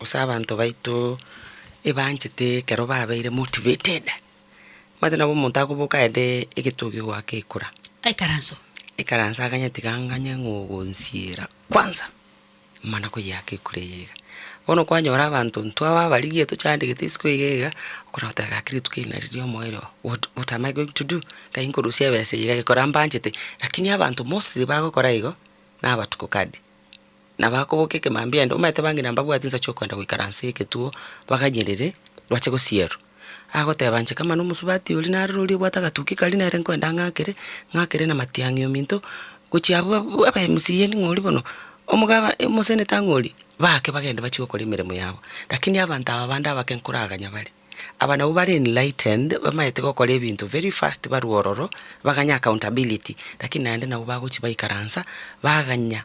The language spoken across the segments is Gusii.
Gose abanto baito ebanchete ekero babeire motivated, omanyete nabo omonto akoboka aende egetogi goaka ekura, Ekaranso. ekaranso aganyetiga anganye ng'a ogonsiera kwanza, mana koyeaka ekura eye iga. Bono kwanyora abanto intwe aba abarigia tochandegete isiko iga iga, okona goteba gaki rituko eri nari ria omoerio oo, what what am I going to do? Nkaye nkorusia ebesa eye iga, gekora mbanchete, lakini abanto mostly bagokora igo, nabatuko card. Nabakoboka ekemambia ende, omanyete bang'ina mbabwati insa chi'okwenda goikara nse y'egetuo baganyerere, bache gosierwa. Agoteba inche kama nomosubati oria nareroria obwate agatuki karia nere nkoenda ng'akere, ng'akere na matiang'i ominto, gochia abwo abwo aba MCAni ng'ori bono, omogaba omoseneta ng'ori, baake bagende bachie gokora emeremo yabo. Lakini abanto aba bande abake nkoraganya bare, aba nabwo bare enlightened, bamanyete gokora ebinto very fast barwa ororo, baganye accountability, lakini naende nabwo bagochia baikaransa, baganya.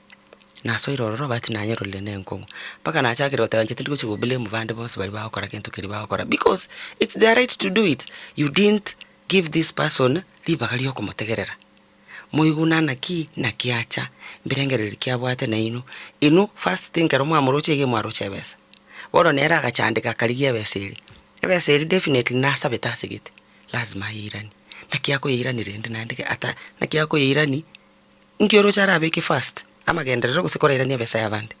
nasoire ororo but nanyerorire ne enkong'u. Mpaka nachakire goteba inche tindi gochia go blame bande bonsi baria bagokora gento keria bagokora because it's their right to do it, you didn't give this person ribaga ria okomotegerera, moiguna naki, naki acha, mbirengereri ki abwate nainwe, inwe first thing ekero mwamoroche iga imwaroche ebesa, bono nere agachandeka akarigia ebesa eria, ebesa eria definitely nasabete asegete, lazima ayeiranie, naki akoyeirania rende naende ge ata naki akoyeirani Inki oroche arabeke first, amagenderero gose korairania ebesa y'abande?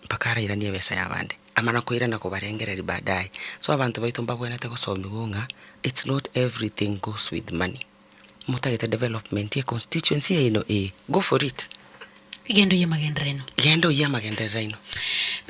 Mpaka arairanie ebesa y'abande, amana koirana kobarengereria baadaye. So abanto baito mbabwenerete gosomigwa ng'a it's not everything goes with money. Motagete development ye constituency yaino ee, go for it. Genda oyie amagenderero aino. Genda oyie amagenderero aino.